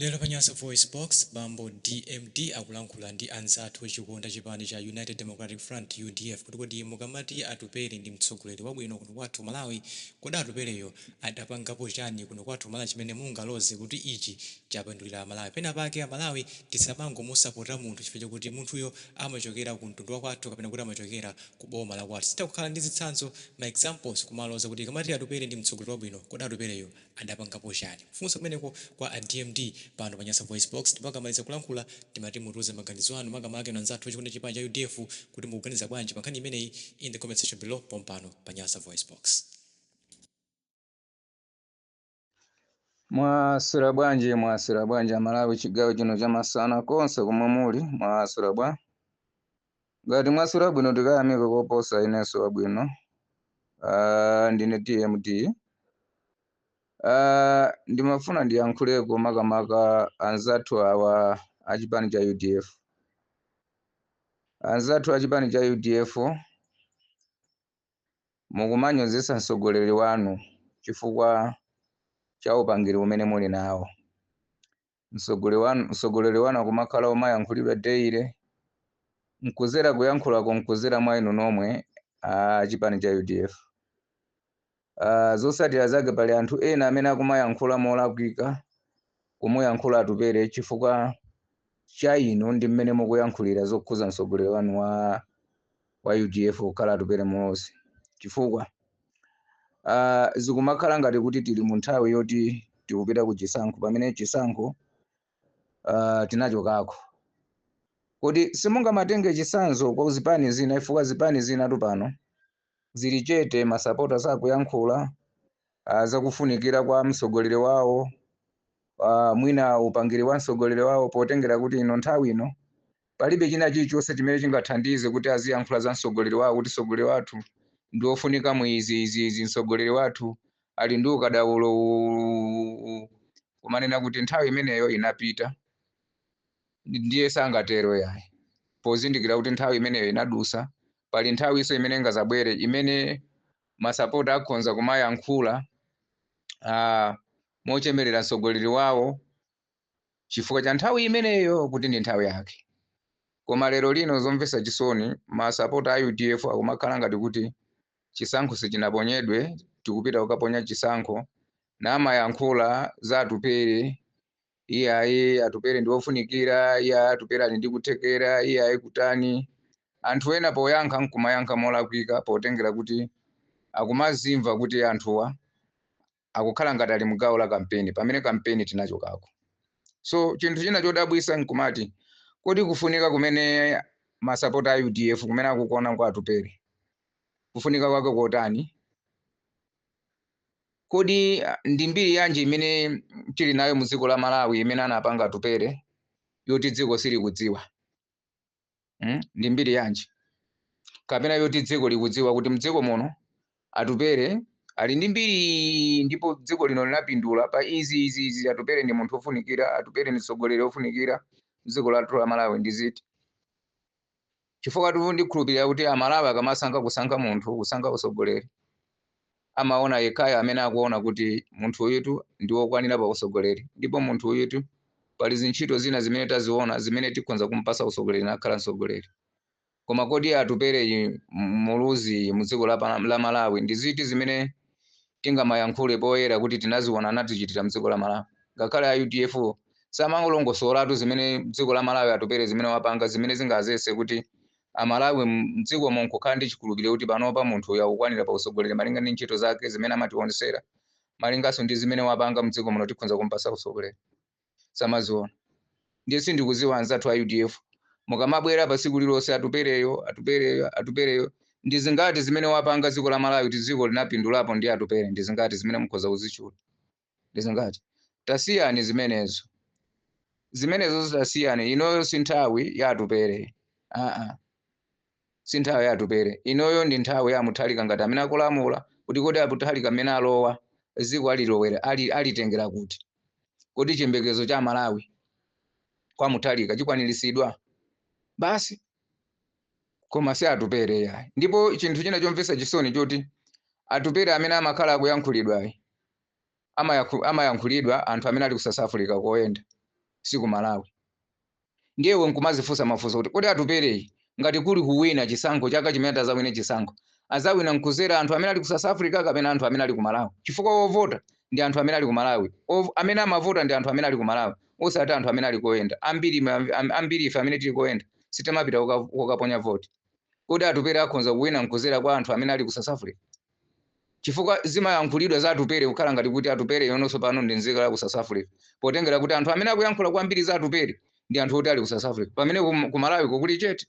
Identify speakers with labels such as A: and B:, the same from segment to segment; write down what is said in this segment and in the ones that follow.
A: Lero pa Nyasa VoiceBox, bambo DMD akulankhula ndi anzathu ochikonda chipani cha United Democratic Front, udf, kuti kodi mukamati Atupele ndi mtsogoleri wabwino kuno kwathu ku Malawi, kodi Atupeleyo adapangapo chani kuno kwathu ku Malawi chimene mungaloze kuti ichi chapindulira Amalawi? Pena pake Amalawi tisamangomusapota munthu chifukwa chakuti munthuyo amachokera ku mtundu wakwathu kapena kuti amachokera ku boma lakwathu. Sitha kukhala ndi zitsanzo, ma examples, kumaloza kuti tikamati Atupele ndi mtsogoleri wabwino, kodi Atupeleyo adapangapo chani kufunsa kumeneko kwa a DMD pano pa Nyasa VoiceBox ndipo akamaliza kulankhula timati mutiuze maganizo anu makamaka inu anzathu ochikonda chipani cha udf kuti mukuganiza bwanji pa nkhani imeneyi in the comment section below pompano pa Nyasa VoiceBox.
B: Mwaswera bwanji mwaswera bwanji amalawi chigawo chino chamasana konse komwe muli mwaswera bwa Ngati mwaswera bwino tikayamika koposa inenso wabwino. Ah, ndine DMD. Ah, ndimafuna ndiyankhuleko makamaka anzathu awa a chipani cha UDF. Anzathu a chipani cha UDF mukumanyozetsa mtsogoleri wanu chifukwa cha upangiri umene muli nawo. Mtsogole wanu- Mtsogoleri wanu akumakhala womayankhulidwa daily. Nkuzera kuyankhulako nkuzera mwa inu nomwe a chipani cha udf. Ah, zotsatira zake pali anthu ena amene akumayankhula molakwika kumuyankhula Atupele chifukwa cha inu ndi mmene mukuyankhulira zokhuza mtsogoleri wanu wa wa udf kukhala Atupele Muluzi chifukwa uh, zikumakhala ngati kuti tili mu nthawi yoti tikupita ku chisankho pamene chisankho uh, tinachokako kodi simungamatenge chisanzo kwa zipani zina chifukwa zipani zinatu pano zili chete masapota sakuyankhula uh, zakufunikira kwa mtsogoleri wawo uh, mwina upangiri wa mtsogoleri wawo potengera kuti ino nthawi ino Palibe china chilichonse chimene chingathandize kuti aziyankhula za mtsogoleri wawo kuti mtsogoleri wathu ndi wofunika mu izi, izi, izi, mtsogoleri wathu ali ndi ukadaulo uwu, uwu, uwu, uwu. Kumanena kuti nthawi imeneyo inapita ndi- ndiye sangatero yayi pozindikira kuti nthawi imeneyo inadusa pali nthawinso imene ingazabwere imene masapota akhonza kumayankhula ah, mochemerera mtsogoleri wawo chifukwa cha nthawi imeneyo kuti ndi nthawi yake. Koma lero lino zomvesa chisoni masapota a udf akumakhala ngati kuti chisankho sichinaponyedwe tikupita kukaponya chisankho namayankhula za Atupele iyayi Atupele ndi ofunikira iyayi Atupele ali ndi kuthekera iyayi kutani anthu ena poyankha nkumayankha molakwika potengera kuti akumazimva kuti anthuwa akukhala ngati ali mgawo la kampeni pamene kampeni tinachokako so chinthu china chodabwisa nkumati kodi kufunika kumene masapota a udf kumene akukuona kwa atupere kufunika kwake kotani kodi ah, ndi mbiri yanji imene tili nayo mu dziko la malawi imene anapanga atupere yoti dziko silikudziwa mm? ndi mbiri yanji kapena yoti dziko likudziwa kuti mdziko muno atupere ali ndi mbiri ndipo dziko lino linapindula pa izi izi izi atupere ndi munthu ofunikira atupere ndi mtsogoleri ofunikira dziko lathu la malawi ndi ziti chifukwa tu ndikhulupirira kuti amalawi akamasankha kusankha munthu kusankha utsogoleri amaona yekhayo amene akuona kuti munthu uyutu ndi wokwanira pa usogoleri ndipo munthu uyutu pali zintchito zina zimene taziona zimene tikhonza kumpasa usogoleri nakhala msogoleri koma kodi atupere yi muluzi yi mu dziko la, pa- la malawi ndi ziti zimene tingamayankhule poyera kuti tinaziona anatichitira mdziko la malawi ngakhale a udf samangolongosolatu zimene dziko la malawi atupere zimene wapanga zimene zingachititse kuti a Malawi mdziko mo nkukhala ndi chikhulupiriro kuti panopa munthu uyu akukwanira pa utsogoleri malinga ndi ntchito zake zimene amatiwonetsera malinganso ndi zimene wapanga mdziko muno tikhonza kumpatsa utsogoleri samaziona ndiye sindikuziwa anzathu a udf mukamabwera pa tsiku lilonse atupereyo atupereyo atupereyo ndi zingati zimene wapanga dziko la malawi kuti dziko linapindulapo ndi atupere ndi zingati zimene mukhoza kuzitchula ndi zingati tasiyani zimenezo zimenezo zitasiyani inoyo si nthawi ya atupere aa si nthawi ya atupere inoyo ndi nthawi ya amuthalika ngati amene akulamula kuti kodi amuthalika mmene alowa dziko alilowera ali- alitengera kuti kodi chiyembekezo cha amalawi kwa amuthalika chikwaniritsidwa basi koma si atupere yayi ndipo chinthu china chomvetsa chisoni choti atupere amene amakhala akuyankhulidwayi amayakhu- amayankhulidwa ndi anthu amene ali ku south africa koyenda si ku malawi ndiye iwe nkumazifunsa mafunso kuti kodi atupereyi ngati kuli kuwina chisankho chaka chimene atazawine chisankho azawina nkuzera anthu amene ali ku south africa kapena anthu amene ali ku malawi chifukwa ovota ndi anthu amene ali ku malawi Ov- amene amavota ndi anthu amene ali ku malawi osati anthu amene ali koyenda ambiri ma- am- ambiri ife amene tili koyenda sitimapita koka- kokaponya voti kodi atupere akhonza kuwina nkuzera kwa anthu amene ali ku south africa chifukwa zimayankhulidwa za Atupere kukhala ngati kuti Atupere yonso pano ndi nzika ya ku South Africa, potengera kuti anthu amene akuyankhula kwambiri za Atupere ndi anthu oti ali ku South Africa, pamene ku- ku Malawi ko kuli chete.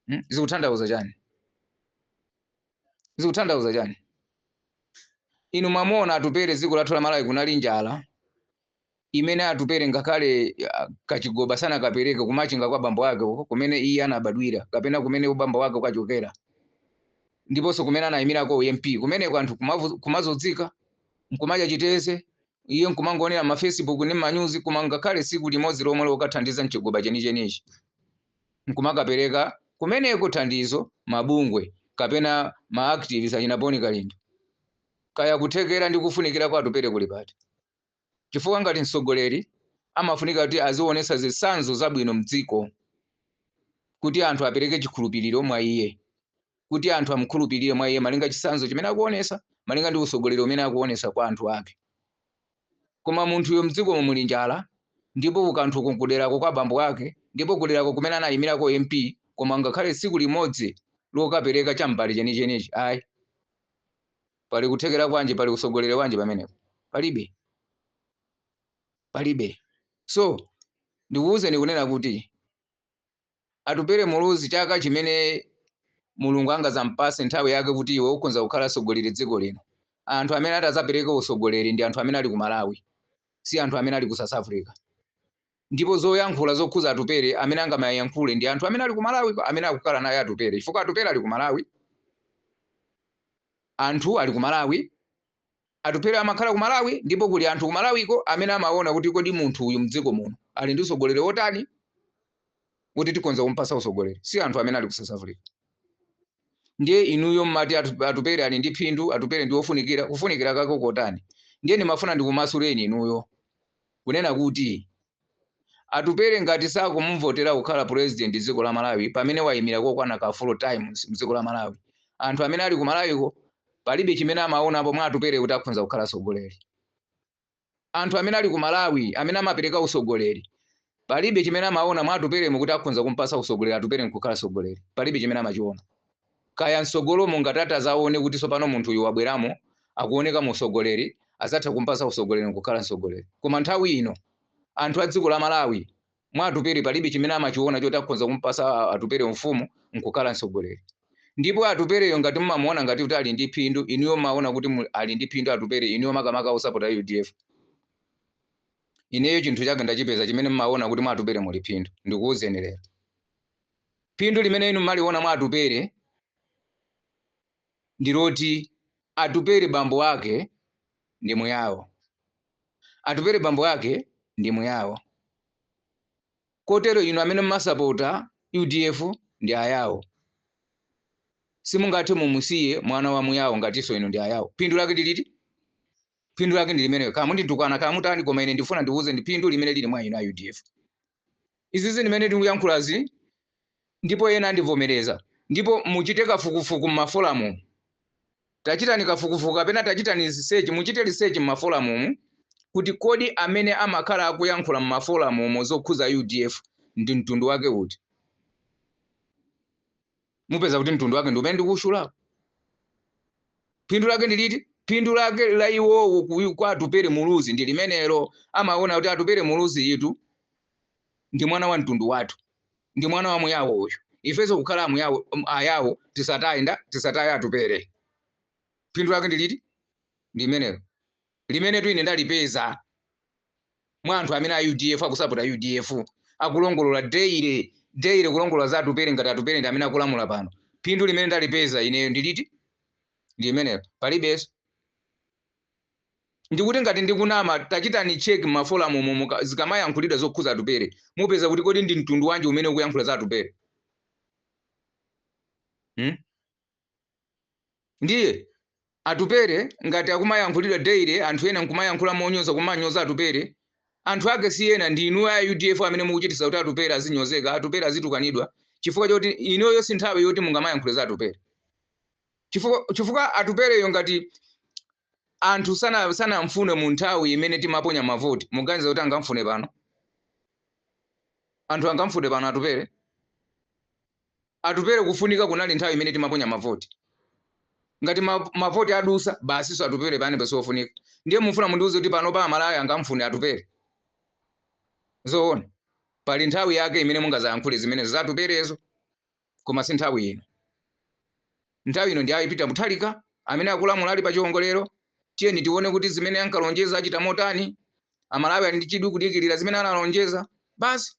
B: Hmm? Zikuthandauza chani? Zikuthandauza chani? Inu mwamuona Atupere dziko lathu la Malawi kunali njala, imene atupele ngakhale ah, kachigoba sanakapereke kumachinga kwa bambo wake uko kumene iye anabadwira kapena kumene ubambo wake ukachokera ndiponso kumene anayimirako MP kumeneko anthu kumavu- kumazodzika nkumadya chiteze iye nkumangoonera m'mafacebook ndi m'manyuzi koma ngakhale siku limodzi lomwe lokathandiza mchigoba chenichenichi nkumakapereka kumeneko thandizo mabungwe kapena maactivis achina bon kalindo kaya kuthekera ndi kufunikira kwa atupele kuli pati chifukwa ngati mtsogoleri amafunika kuti aziwonetsa zitsanzo zabwino mdziko kuti anthu apereke chikhulupiliro mwa iye, kuti anthu amukhulupilire mwa iye malinga ndi chitsanzo chimene akuwonetsa, malinga ndi utsogoleri umene akuwonetsa kwa anthu ake. Koma munthuyo mdzikomo muli njala ndipo kukanthuko nkuderako kwa bambo ake ndipo kuderako kumene anayimirako MP koma ngakhale tsiku limodzi lokapereka cha mbale chenichenichi ayi. Pali kuthekera kwanji? Pali utsogoleri wanji pamenepo? Palibe. Palibe. So, ndikuwuzeni kunena kuti Atupele Muluzi chaka chimene Mulungu angadzampatse nthawi yake kuti iwe ukhonza kukhala tsogoleri dziko lino, anthu amene ati adzapereke utsogoleri ndi anthu amene ali ku Malawi, si anthu amene ali ku South Africa. Ndipo zoyankhula zokhuza Atupele amene angamayankhule ndi anthu amene ali ku Malawiko amene akukhala naye Atupele chifukwa Atupele ali ku Malawi, anthu ali ku Malawi, Atupele amakhala ku Malawi ndipo kuli anthu ku Malawiko amene amawona kuti kodi munthu uyu mdziko muno ali ndi utsogoleri wotani woti tikhonza kumupatsa utsogoleri si anthu amene ali ku South Africa. Ndiye inuyo mmati Atu- Atupele ali ndi phindu, Atupele ndi wofunikira, kufunikira kwake kotani? Ndiye ndimafuna ndikumasuleni inuyo. kunena kuti Atupele ngati sakumuvotera kukhala president dziko la Malawi pamene waimira kokwana ka 4 times mdziko la Malawi anthu amene ali ku Malawiko palibe chimene amaonapo mwa Atupele kuti akhonza kukhala tsogoleri anthu amene ali ku Malawi amene amapereka utsogoleri palibe chimene amaona mwa Atupelemu kuti akhonza kumpasa utsogoleri Atupele nkukhala tsogoleri palibe chimene amachiona Kaya msogolomo ngati ati azaone kuti sopano munthu uyu wabweramo akuonekamo usogoleri azatha kumpasa usogoleri nkukhala msogoleri koma nthawi ino anthu adziko la Malawi mwa Atupele palibe chimene amachiona choti akhonza kumpasa Atupele umfumu nkukhala msogoleri ndipo Atupeleyo ngati mumamuona ngati kuti ali ndi phindu inuyo mumaona kuti ali ndi phindu Atupele inuyo makamaka osapota udf ineyo chinthu chake ndachipeza chimene mumaona kuti mwa Atupele muli phindu ndikuuzeni lero. Phindu limene inu mmaliona mwa Atupele ndi loti Atupele bambo ake ndi Muyao. Atupele bambo ake ndi Muyao. Kotero inu amene mmasapota udf ndi Ayao. Simungathe mumusiye mwana wa Muyao ngatinso inu ndi Ayao. Phindu lake ndi liti? Phindu lake ndi limenelo. Kaya munditukwana kaya mutani koma ine ndikufuna ndikuuzeni phindu limene liri mwa inu a udf. Izizi zimene ndikuyankhulazi ndipo ena andivomereza ndipo muchite kafukufuku mmafolamumu tachitani kafukufuku kapena tachitani research muchite research mmafolamumu kuti kodi amene amakhala akuyankhula mmafolamumu zokhuza udf ndi mtundu wake uti? mupeza kuti mtundu wake ndi umene ndikuwutchulawo phindu lake ndi liti phindu lake la iwowo ku- kwa atupere muluzi ndi limenelo amaona kuti atupere muluzi yitu ndi mwana wa mtundu wathu ndi mwana wa muyawo uyu ifenso kukhala amuyawo um, ayawo tisataye nda tisataye atupere phindu lake ndi liti ndi limenelo limenetu ine ndalipeza mwa anthu amene a udf akusapota udf akulongolola daily daily kulongolola za atupere ngati atupere ndi amene akulamula pano phindu limene ndalipeza ineyo ndiliti ndi limenelo palibenso ndikuti ngati ndikunama tachitani check mafolamu umo muka- zikamayankhulidwa zokhuza atupere mupeza kuti kodi ndi mtundu wanji umene ukuyankhula za atupere hmm? Ndiye Atupele ngati akumayankhulidwa daily anthu ena nkumayankhula monyoza kumanyoza Atupele, anthu ake si ena ndi inuyo a udf amene mukuchititsa kuti Atupele azinyozeka, Atupele azitukanidwa chifukwa choti inuyoyo si nthawi yoti mungamayankhule za Atupele chifukwa Atupeleyo ngati anthu sana sanamfune mu nthawi imene timaponya mavoti muganiza kuti angamfune pano anthu angamfune pano atupere atupere kufunika kunali nthawi imene timaponya mavoti ngati ma- mavoti adusa basinso atupere panopa siofunika ndiye mufuna mundiuze kuti panopa amalawi angamfune atupere zoona pali nthawi yake imene mungazayankhule zimenezo za atuperezo koma si nthawi ino. Nthawi ino ndi a Peter Mutharika amene akulamula ali pa chiwongolero. Tiyeni tione kuti zimene ankalonjeza achita motani. Amalawi ali ndi chidwi kudikirira zimene analonjeza. Basi.